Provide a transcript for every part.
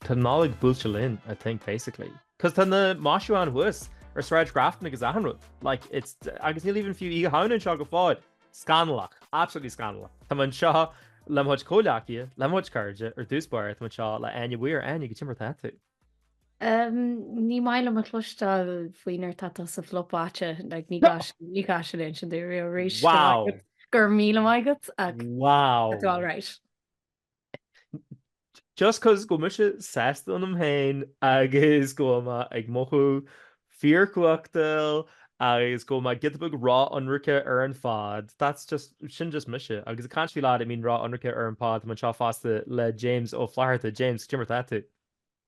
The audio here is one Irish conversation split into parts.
Tá an Nollaig buailte linn, I think, basically. Cos tá na maisiúcháin thuas ar Shráid Grafton agus achan rud. Like, it's, agus níl even fiú Oíche Shamhna anseo go fóill. Scannalach. Absolutely scannalach. Tá muid anseo le mo chuid comhghleacaithe, le mo chuid cairde, ar dtús báire tá mé anseo le Áine Weir. Áine, cad é mar atá tú? Umm, ní maith liom bheith ag cluinstin faoi nuair atá tú sa phlopáit, like, ní gá sin, ní gá sin ansin a dhéanamh arís. Wow! Go raibh míle maith agat, ach. Wow! Tá tú alright? Just cos go bhfuil mise sásta ionam féin agus go bhfuil mé ag mothú fíorchumhachtail agus go bhfuil mé giota beag ró-ionraic ar an phod, that's just, sin just mise agus I can't feel that I mean ró-ionraic ar an phod, tá mé anseo fosta le James Ó Flatharta. James, cad é mar atá tú?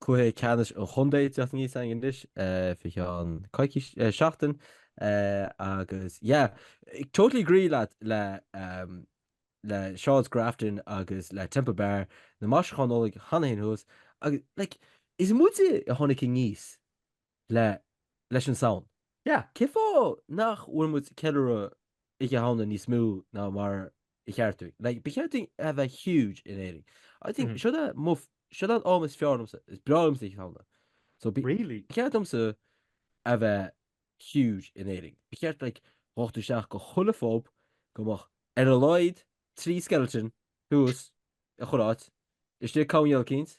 Cluiche Ceannais an Chontae ag teacht aníos againn anois fé cheann coicís, seachtain agus yeah, totally agree leat le le Sráid Grafton agus le Temple Bar, na maisiúcháin Nollag cheana féin thuas agus like is muide a tháinig aníos le leis an Samhain. Yeah, cén fáth nach bhfuil muid ag ceiliúradh Oíche Shamhna níos mó ná mar ba cheart dúinn? Like, ba cheart dó a bheith huge in Éirinn. I think, seo é mo, seo é an t-am is fearr liomsa, is breá liomsa Oíche Shamhna. So, ba Really? cheart liomsa a bheith huge in Éirinn. Ba cheart, like, a ngabhfá isteach go chuile phub, go mbeadh ar a laghad trí skeleton thuas i chuile áit, istigh i chuile áit cinnte.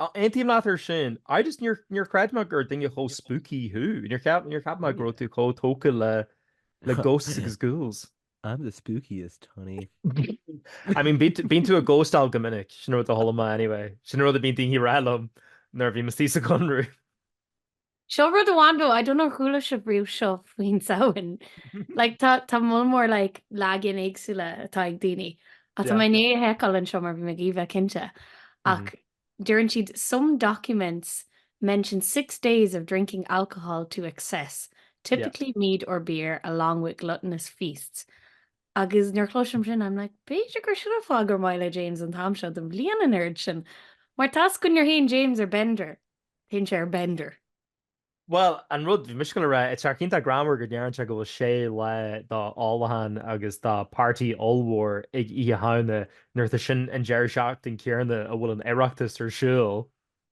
Aontaím leat ar sin. I just, níor, níor chreid mé gur duine chomh spooky thú. Níor cheap, níor cheap mé go raibh tú chomh tógtha le, le ghosts agus ghouls. I'm the spookiest, honey. I mean, bíonn tú- bíonn tú ag ghostáil go minic, sin rud a chuala mé anyway. Sin rud a bhíonn daoine ag rá liom nuair a bhí mise sa Conradh. Seo rud amháin though, I don't know, ar chuala sibh riamh seo faoin Samhain? Like, tá, tá moll mór, like, leagan éagsúla atá ag daoine. Ach tá Yeah. mé i ndiaidh a sheiceáil anseo mar bhí mé ag iarraidh a bheith cinnte. Ach deireann siad some documents mention six days of drinking alcohol to excess, typically mead or beer, along with gluttonous feasts. Agus nuair a chluinim sin, I'm like, b'fhéidir gur sin an fáth gur maith le James an t-am seo den bhliain an oiread sin. Mar tá scéal ann go dtéann James ar bender. Téann sé ar bender. Bhuel, an rud, bhí mise ag gabháil a rá, is tá sé iontach greannmhar go ndeireann sé go bhfuil sé lá d'ólachán agus de pháirtí ollmhór ag Oíche Shamhna nuair atá sin an deireadh seachtain céanna a bhfuil an Oireachtas ar siúl.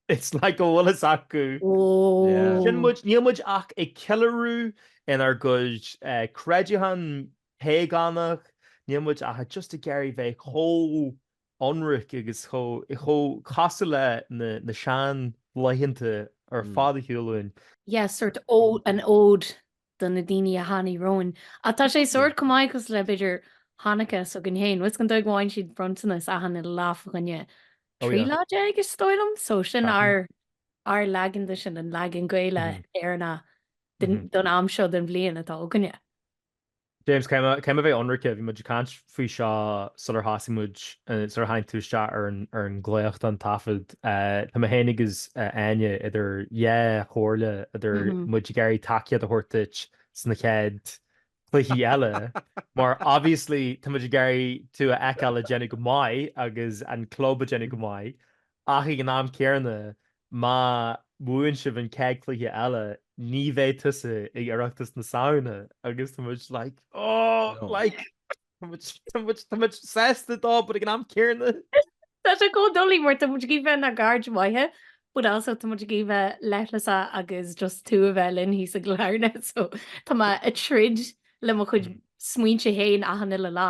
It's like go bhfuil a fhios acu. Sin muid, níl muid ach ag ceiliúradh ár gcuid creidiúintí págánacha, níl muid ach just ag iarraidh bheith chomh ionraic agus chomh casta le na seanlaethanta ar fad ar shiúl uainn. yeah sórt an ode do na daoine a tháinig romhainn ach tá sé sórt chomh maith cosúil le b'fhéidir Hanukkah s'againn féin, agus an dóigh a bhfaigheann siad bronntanas achan uile lá fá choinne trí lá déag is dóigh liom so sin ár ár leagan de sin an leagan Gaelach Éireannach don am seo den bhliain atá againne. James, caithfidh mé a bheith ionraice, bhí muid ag caint faoi seo sular thosaigh muid, sular tháinig tú isteach ar an glaoch don taifead. Tá mé féin agus Áine idir dhá chomhairle, idir muid ag iarraidh tacaíocht a thabhairt duit sna chéad chluichí eile mar obviously tá muid ag iarraidh tú a fheiceáil ag déanamh go maith agus an club ag déanamh go maith Ach ag an am céanna, má bhaineann sibh an chéad chluiche eile, ní bheidh tusa ag Oireachtas na Samhna agus tá muid like, oh, like, tá muid, tá muid, tá muid sásta dó but ag an am céanna. Tá sé chomh doiligh mar tá muid ag iarraidh a bheith inár gcairde maithe but also tá muid ag iarraidh a bheith leithleasach agus just tú a bheith linn thíos i gCill Airne so tá mé ag troid le mo chuid smaointe fhéin achan uile lá.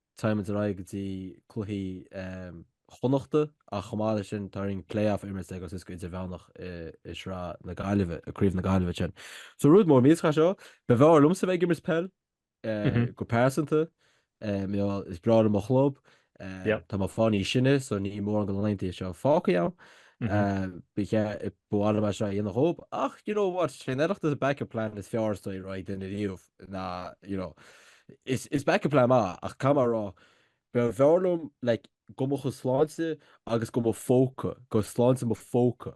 Táimid ar aghaidh go dtí cluichí Chonnachta ach chomh maith leis sin tá orainn play-off a imirt a dhul suas go Idirmheánach i Sraith na Gaillimhe, i Craobh na Gaillimhe ansin. So rud mór millteach é seo. B'fhearr liomsa bheith ag imirt peil, go pearsanta. Is breá liom mo chlub. Tá muid ag fáil níos sine so níl mórán de na laethanta seo fágtha againn. Ba mhaith liom é seo a dhéanamh dhóib ach you know what, sé an tOireachtas an backup plan is fearr is dóigh a raibh ag duine riamh. na, you know, is is backup plan maith ach caithfidh mé a rá, b'fhearr liom like do mo chuid sláinte agus do mo phóca, do shláinte mo phóca,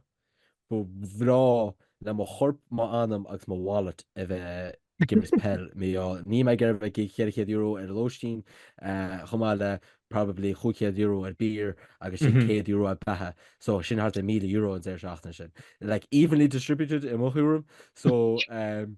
ba bhreá le mo chorp, m'anam agus mo wallet a bheith ag imirt peil mar, níl mé ag iarraidh a bheith ag íoc ceithre chéad euro ar lóistín chomh maith le probably chúig chéad euro ar beer agus ansin céad euro ar beatha so sin thart ar míle euro an deireadh seachtaine sin like evenly distributed i mo thuairim so um,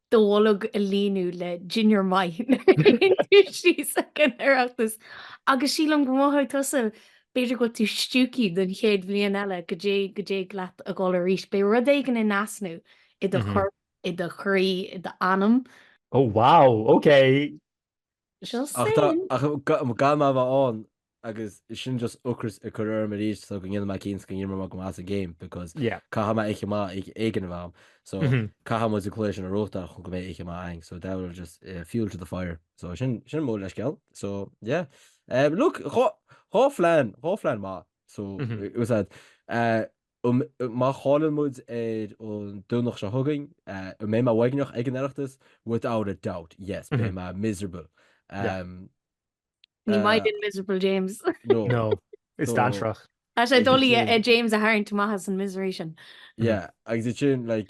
Do bholg a líonadh le dinnéar maith nuair a théann tú síos ag an Oireachtas agus sílim go mothóidh tusa b'fhéidir go bhfuil tú stiúgtha don chéad bhliain eile go dtí go dtig leat a dhul arís. Beidh rud éigin in easnamh i do chorp, i do chroí, i d'anam. Oh wow! Ok! Seo Ach tá, sin! ach gan mé a bheith ann, agus sin just ocras a chur orm arís so go ndéanfaidh mé cinnte go n-imreoidh mé go maith sa game because Yeah. caithfidh mé oíche mhaith éigin a bheith agam. So Mhm. caithfidh muid an cluiche sin a ghnóthachtáil chun go mbeidh oíche mhaith againn. So that will just eh, fuel to the fire. So sin, sin mo leithscéal. So yeah. Eh, look, dhá, dhá phlean, dhá phlean maith. So Mhm. it was that, eh, um Má chailleann muid ar an Domhnach seo chugainn, an mbeidh mé uaigneach ag an Oireachtas? Without a doubt, yes, beidh mé miserable. Um Ní maith uh, linn miserable James. No. No. Is no. dantrach. Tá sé doiligh James a tharraingt amach as an misery sin. Yeah, agus sin like,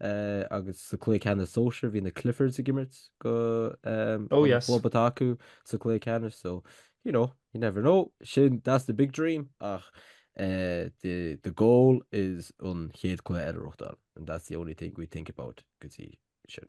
agus sa chluiche ceannais sóisir bhí na Cliffords ag imirt don Oh yes. chlub atá acu sa chluiche ceannais so you know you never know sin that's the big dream ach eh, the, the goal is an chéad chluiche eile a reachtáil and that's the only thing we think about go dtí sin.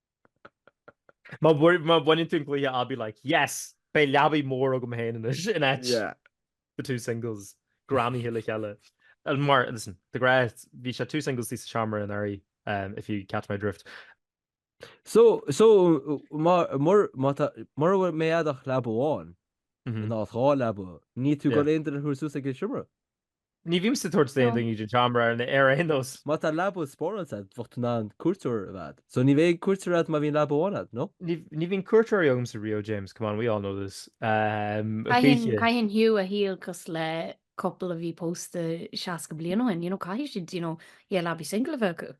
Má bhaineann tú an cluiche I'll be like yes! Beidh leabaidh mór agam féin anois in áit The Two Singles, greamaithe le chéile. Mar, listen, tá grá, bhí sé Two Singles istigh sa seomra anuraidh, if you catch my drift. So, so, má, mur, má tá, mura mbeidh agat ach leaba amháin in áit dhá leaba, níl tú ag dul aon duine a thabhairt suas ag an seomra? Ní bhímse ag tabhairt aon duine don seomra ar aon nós. Má tá leaba spare ann, bheadh tú in ann cuairteoir a bheith agat. So ní bheidh cuairteoir agat má bhíonn leaba amháin agat, no? Ní bhíonn cuairteoirí agamsa riamh, James, come on, we all know this. Caitheann Hugh a shaol cosúil le couple a bhí pósta seasca bliain ó shin, you know, caithfidh siad, you know, yeah, leabaí single a bheith acu.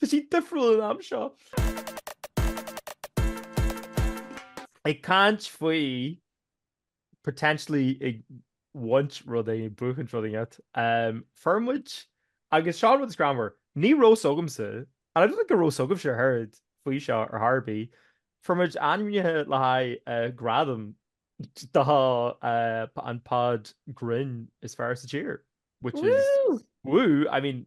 Tá sí difriúil an am seo. Ag caint faoi potentially ag baint rudaí, buachaint rudaí agat. Um, Fuair muid, agus seo an rud is greannmhar, ní raibh a fhios agamsa, and I don't think go raibh a fhios agaibhse ach an oiread faoi seo ar chor ar bith, fuair muid ainmnithe le haghaidh uh, gradam do uh, an pod grinn is fearr sa tír, which is, Woo! woo, I mean,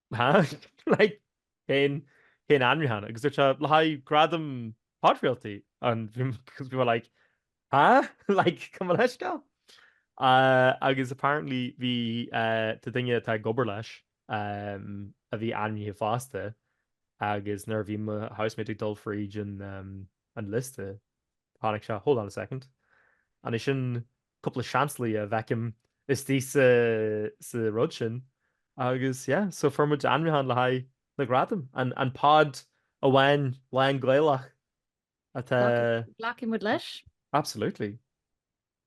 Cén ainmniúchán? Agus dúirt sé, le haghaidh gradam podchraoltaí. Agus bhí mé like, há? Like, come on, let's go. Agus apparently bhí tá duine atá ag obair leis a bhí ainmnithe fosta agus nuair a bhí mo housemate ag dul fríd an liosta chonaic sé, hold on a second, an é sin cúpla seansálaí a fheicim istigh sa rud sin agus yeah so fuair muid ainmniúchán le haghaidh na ngradam, an pod amháin lán-Ghaelach atá Glacfaidh muid leis. Absolutely.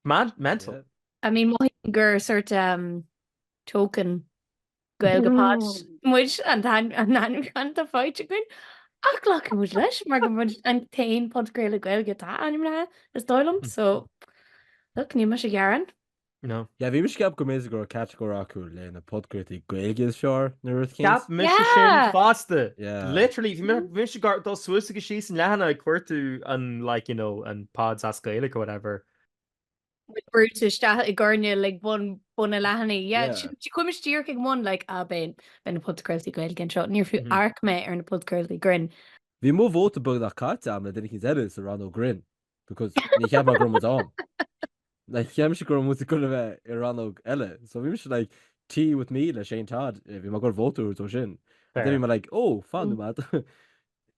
Mad, mental. I mean mothaím gur sort token Gaeilge pod muid, an t-ainmniúchán atá faighte againn ach glacfaidh muid leis mar gur muid an t-aon pod Gaeilge Gaeilge atá ainmnithe is dóigh liom so look níl muid ag gearán. No. Yeah, bhí muid ag ceapadh go mb'fhéidir go raibh category acu le na podchraoltaí Gaeilge is fearr nó rud éicint. Cheap muid sin Yeah! fosta. Yeah. Literally, bhí muid ag dul suas agus síos an leathanach ag cuartú an like, you know, an pods as Gaeilge or whatever. with Brutus isteach i gcoirnéal ag bun bun an leathanaigh. Yeah, Yeah. sin- sin chuaigh mise díreach ag bun like ah ben ben na podchraoltaí Gaeilge anseo. Níor fiú Mhm. amharc mé ar na podchraoltaí grinn. Bhí mo vóta beagnach caite agam le duine eicínt eile sa rannóg grinn because ní cheap mé go raibh muid ann. Like, cheap mise go raibh muid gonna bheith i rannóg eile. So bhí mise like, tea with me le Shane Todd, eh, bhí mé ag cur vóta dó sin. Fair. Then bhí mé like, oh, fan Ú. nóiméad.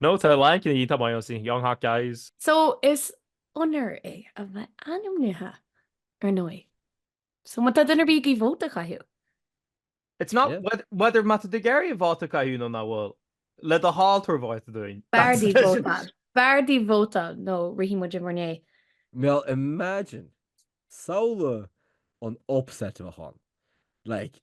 No, tá a lán cinn iontach maith ann, say, young hot guys. So, is onóir é a bheith ainmnithe, ar ndóigh. So, má tá duine ar bith ag iarraidh vóta a chaitheamh. It's not Yeah. whe- whether má tá duine ar bith ag iarraidh vóta a chaitheamh nó nach bhfuil. Le do thoil tabhair vóta dúinn. B'fhearr That's- daoibh vótáil. B'fhearr daoibh vótáil nó rithfidh muid in bhur ndiaidh. Well imagine, samhlaigh an upset a bheadh ann. Like,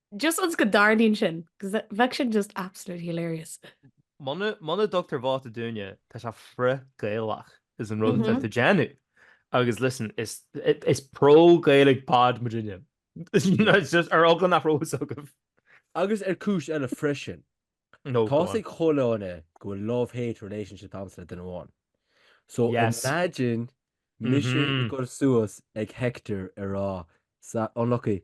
Just once go dtarlaíonn sin, bheadh sin just absolutely hilarious. Muna dtugtar vóta dúinne, tá sé frith-Gaelach is an rud atá tú ag déanamh. Agus listen, is pro-Gaelic pod muidne. Just ar eagla nach raibh a fhios agaibh. Agus ar chúis eile freisin, tá's ag chuile dhuine go bhfuil love-hate relationship agamsa le duine amháin. So imagine mise ag goil suas ag Hector ag rá, Ah, unlucky,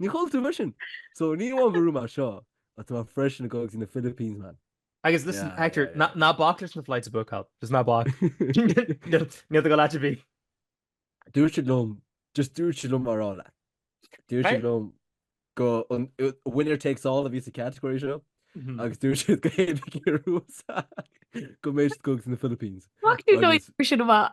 Ní chaill tú bhrisean! So ní amháin gur bhuaigh mé seo ach tá mé freisin ag goil go dtí na Philippines man. Agus listen, Yeah, Hector, yeah, yeah. ná- ná bac leis na flights a bhookáil. Just ná bac. Níl níl do go leat a bhí. Dúirt siad liom, just dúirt siad liom a rá leat. Dúirt Hey. siad liom gur uh, winner takes all a bhí sa category seo Mhm. agus dúirt siad go whoever a bhuas go mbeidh siad ag goil go dtí na Philippines. Fuck you, no, Agus- you should have.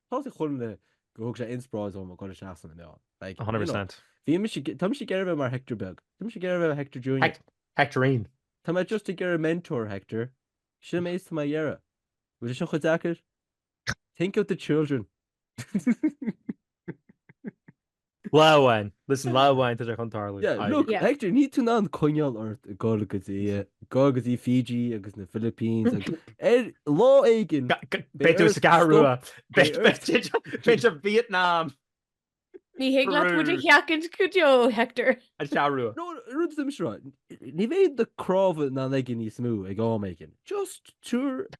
Tá sé chun le go thug sé inspioráid dom a ghoil isteach san inneall. Like, you 100%. know, bhí mise, tá mise ag iarraidh bheith mar Hector beag. Tá mise ag iarraidh bheith Hector Junior. Hec- Hectorine. Tá mé just ag iarraidh mentor Hector. Sin an méid atá mé ag iarraidh. Bhfuil sé sin chomh deacair? Think of the children. Lá amháin. Listen, lá amháin tá sé chun tarlú. Yeah, Aye. look, Yeah. Hector, níl tú in ann coinneáil ort ag goil go dtí, eh, goil go dtí Fiji agus na Philippines agus ar lá éigin, Ga- ga- Beidh tú ar ais sa gCeathrú Rua. Beidh Beidh- beidh tú ag- beidh tú ag Vietnam Ní féidir leat muid a Brú. sheachaint go deo, Hector. an Cheathrú Rua. nó rud is I'm sure, ní bheidh do chnámha in ann aige níos mó ag am éigin. Just, sure,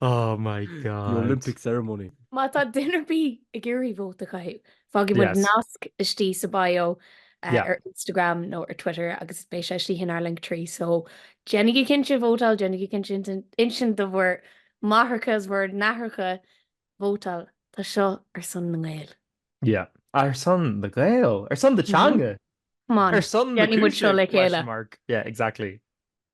Oh my god. The Olympic ceremony. Má tá duine ar bith ag iarraidh vóta a chaitheamh, fágfaidh muid nasc istigh sa bio ar Instagram nó ar Twitter agus beidh sé istigh inár Linktree so déanaigí cinnte vótáil, déanaigí cinnte insint do bhur máithreacha is bhur n-aithreacha vótáil. Tá seo ar son na nGael. Yeah. Ar son na nGael. Ar son na teanga. Come on. Ar son na cúise? Déanfaidh muid seo le chéile. Yeah, exactly.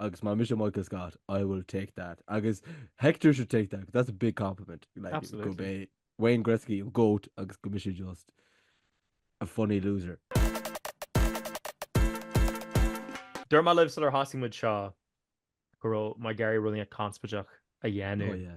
agus má mise Michael Scott I will take that agus Hector should take that 'cause that's a big compliment like, Absolutely. gurb é Wayne Gretzky an goat agus go mise just a funny loser. Dúirt mé libh sular thosaigh muid seo go raibh mé ag iarraidh rud inteacht conspóideach a dhéanamh. Oh yeah.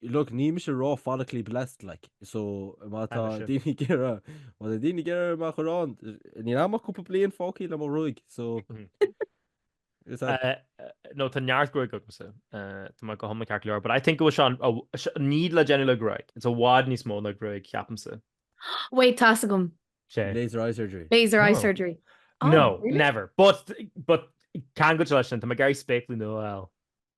Look, níl mise ró-follically blessed, like, so má tá Ainm sin. daoine ag iarraidh, má tá daoine ag iarraidh magadh orm, níl agam ach cúpla bliain fágthaí le mo ghruaig, so is that Eh, eh, nó tá neart gruaig agamsa. eh, Tá mé go hiomlán ceart go leor. But I think go bhfuil seán, a- se- ní le déanamh le gruaig. It's i bhfad níos mó ná gruaig, ceapaimse. Wait, tá a fhios agam. Sé. laser eye surgery. Laser eye Oh. surgery. Oh, No, really? never. But, but, ceangailte leis sin, tá mé ag iarraidh spéaclaí nua a fháil.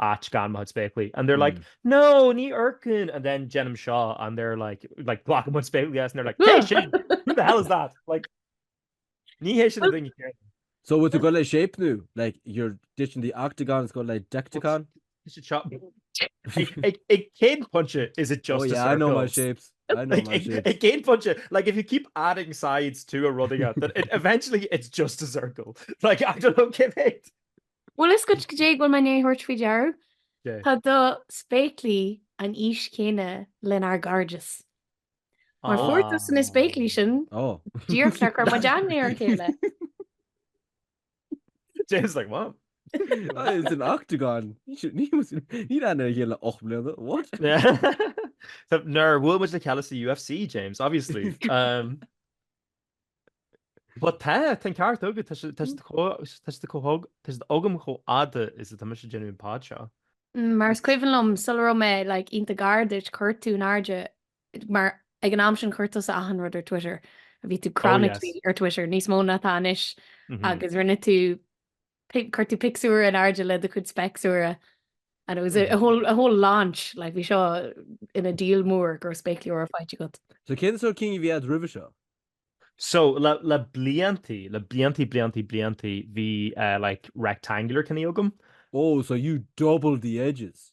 áit gan muid spéaclaí and they're like no ní fhoirceann and then déanaim seo and they're like like glacann muid spéaclaí as and they're like cé sin? who the hell is that? like ní hé sin a daoine céanna. So bhfuil tú ag gabháil le shape nó like you're ditching the octagon is going le deicteacán? ag cén pointe is it just a circle? oh yeah I know my shapes I know my shapes ag cén pointe like if you keep adding sides to a rud aige then it eventually it's just a circle like I don't know cé mhéad Bhfuil a fhios agat cad é a bhfuil mé i ndiaidh a thabhairt faoi deara, tá do spéaclaí an aois chéanna lenár gcairdeas. Mar fuair tusa na spéaclaí sin, díreach nuair a chuir muid aithne ar a chéile. James like, what? It's an octagon. Níl aithne ar a chéile le ocht mbliana, what? Nuair a bhuail muid le chéile sa UFC, James, obviously. But tá, tá an ceart agat, tá siad tá siad chomh hog, tá siad agam chomh fhada is atá mise ag déanamh an pod seo. Mar is cuimhin liom sula raibh mé like iontach gar duit chuir tú in airde mar ag an am sin chuir tusa achan rud ar Twitter a bhí tú Oh yes. chronically ar Twitter níos mó ná atá anois agus rinne tú pic, chuir tú pictiúr in airde le do chuid speicsúra and it was a, a whole, a whole launch, like bhí seo ina deal mór go raibh spéaclaí úra faighte agat. So cén sórt cinn a bhí agat roimhe seo? So le, le bliantaí, le bliantaí, bliantaí, bliantaí bhí eh, like rectangular cinní agam. Oh, so you doubled the edges.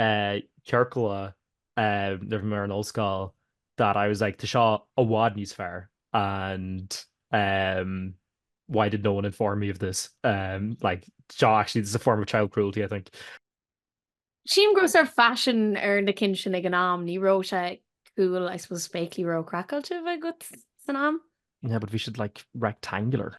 ciorcla nuair a bhí mé ar an ollscoil that I was like tá seo i bhfad níos fearr and why did no one inform me of this like seo actually this is a form of child cruelty I think. Sílim go raibh sort of faisean ar na cinn sin ag an am, ní raibh sé cool I suppose spéaclaí ró-chraiceáilte a bheith agat san am. Yeah but bhí siad like rectangular.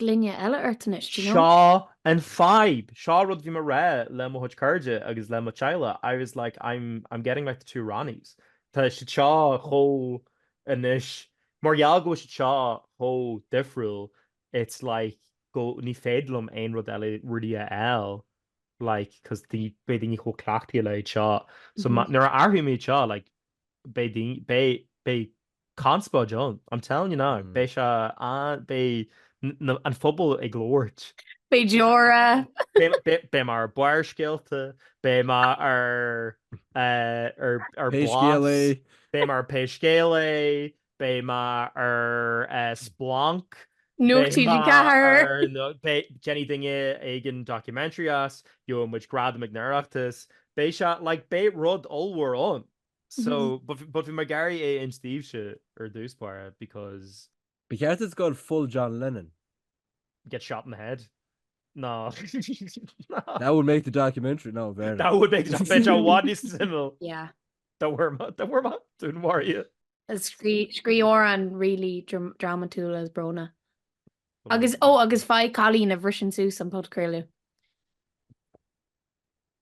gloine eile ort anois, do you know? Seo an fadhb, seo rud bhí mé ag rá le mo chuid cairde agus le mo theaghlach, I was like I'm, I'm getting like the two Ronnies. Tá siad seo chomh, anois, mar gheall go bhfuil siad seo chomh difriúil, it's like go, ní féidir liom aon rud eile really a fháil like cause the, beidh daoine chomh cleachtaithe le iad seo. So nuair a athróidh mé iad seo like beidh daoine, beidh, beidh, Conspóid ann, I'm telling you now, beidh sé an, beidh an pobal ag labhairt. Beidh deora. Beidh muid ar Barrscéalta, beidh muid ar Blas, beidh muid ar Pé Scéal É, beidh muid ar Splanc, Nuacht TG4, déanfaidh duine éigin documentary as, gheobhaidh muid gradam ag an Oireachtas, beidh sé, like, beidh rud ollmhór ann. So, but but bhí muid ag iarraidh é a insint duitse ar dtús báire because. Ba cheart dúinn go full John Lennon. get shot in the head. No. That would make the documentary, no, bheir. That would make the documentary i bhfad níos suimiúla. Yeah. Dá bhfuair mé, dá bhfuair mé, dúnmharaithe. Scríobh amhrán really drámatúil is brónach. Agus, ó, agus faigh cailín a bhriseann suas an podchraoladh.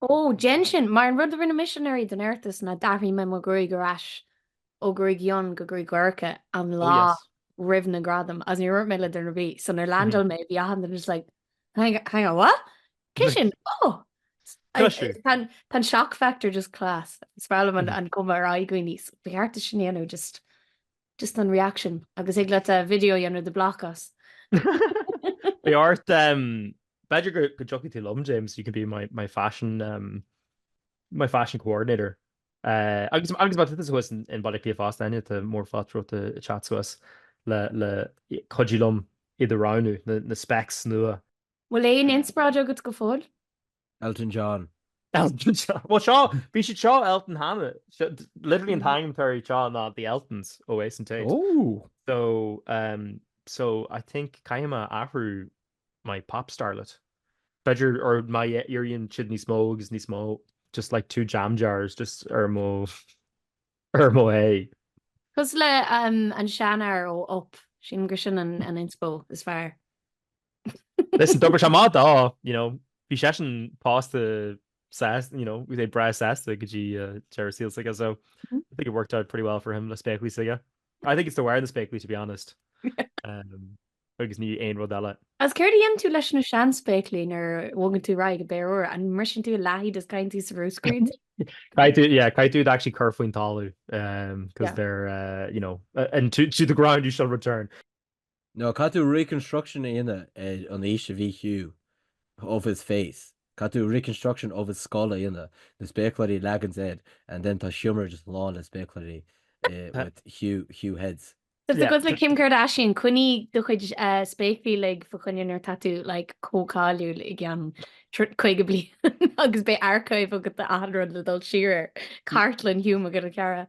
Ó, déan sin, mar an rud a rinne mise anuraidh don Oireachtas ná d'athraigh mé mo ghruaig ar ais ó gruaig fhionn go gruaig dhorcha an lá roimh na gradaim agus níor dhúirt mé le duine ar bith. So nuair leaindeáil mé bhí achan duine just like, hang hang on, what? Cé sin? Oh! Class. Tá an tá an shock factor just class. Is fearr liom an an cuma ar aghaidh daoine. So ba cheart sin a dhéanamh just just an reaction agus thig leat a video a dhéanamh de because. Ba cheart B'fhéidir go dtiocfaidh tú liom, James, you can be my my fashion um my fashion coordinator. Eh, agus agus má tá tusa thuas i mBaile Átha Cliath fosta, Áine, tá míle fáilte romhat a a theacht suas le le cuidiú liom iad a roghnú, na na specs nua. Bhfuil aon inspioráid agat go fóill? Elton John. Elton John! Bhuel seo, bhí siad seo Elton cheana. Seo, literally an t-ainm atá orthu seo ná The Eltons ó Ace and Tate. Ooh! So, um so I think caithfidh mé athrú my pop starlet. B'fhéidir or my a éiríonn siad níos mó agus níos mó just like two jam jars just ar mo ar mo é. Cosúil leis an seanfhear ó Up, sílim gur sin an inspo is fearr. Listen, d'oibrigh sé amach dó, you know, bhí seisean pósta sás, you know, bhí sé breá sásta go dtí deireadh an tsaoil s'aige so I think it worked out pretty well for him le spéaclaí s'aige. I think it's the wearing the spéaclaí to be honest agus ní aon rud eile. Agus céard a dhéanann tú leis na seanspéaclaí nuair a bhogann tú ar aghaidh go péire úr? An mbriseann tú ar a leath iad is caitheann tú sa mbruscar iad? Caithfidh tú, yeah, caithfidh tú actually cur faoin talamh, um, because Yeah. they're, uh, you know, uh, and to, to the ground you shall return. Nó caithfidh tú reconstruction a dhéanamh ar an aois a bhí Hugh of his face. Caithfidh tú reconstruction of his skull a dhéanamh, na spéacláirí a leagan air and then tá seomra just lán le spéacláirí with Hugh, Hugh heads. Is cosúil le Kim Kardashian, coinnigh do chuid spéaclaí fa' choinne nuair tá tú like chomh cáiliúil i gceann caoga bliain agus beidh archive agat de achan rud le dul siar air. Cartlann Hugh McCarra.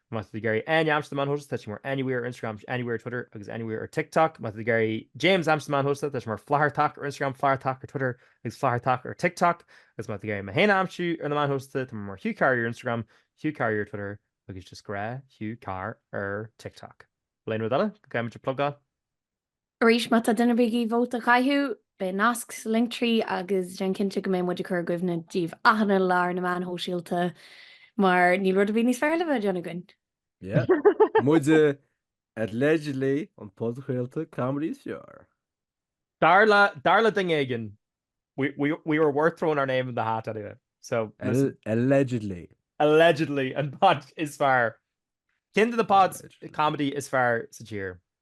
Má tá tú ag iarraidh Áine a aimsiú ar na meáin shóisialta, tá sé mar anywhere ar Instagram agus anywhere ar Twitter agus anywhere ar TikTok. Má tá tú ag iarraidh James a aimsiú ar na meáin shóisialta, tá sé mar Flathartach ar Instagram, Flathartach ar Twitter agus Flathartach ar TikTok. Agus má tá tú ag iarraidh mé féin a aimsiú ar na meáin shóisialta, tá mé mar Hugh Carr here ar Instagram, Hugh Carr here ar Twitter agus just gnáth Hugh Carr ar TikTok. Bhfuil aon rud eile go gcaithfimid a plugáil? Arís, má tá duine ar bith ag iarraidh vóta a chaitheamh, beidh nasc sa linktree agus déan cinnte go mbeidh muid ag cur i gcuimhne daoibh achan lá ar na meáin shóisialta mar níl rud ar bith níos fearr le bheith ag déanamh againn. Yeah. Muide allegedly an podchraoladh comedy is fearr. Dar le, dar le duine éigin, we, we, we were worth throwing our name in the hat anyway. So, listen. Al allegedly. Allegedly, an pod is fearr. Ceann de na pods comedy is fearr sa tír.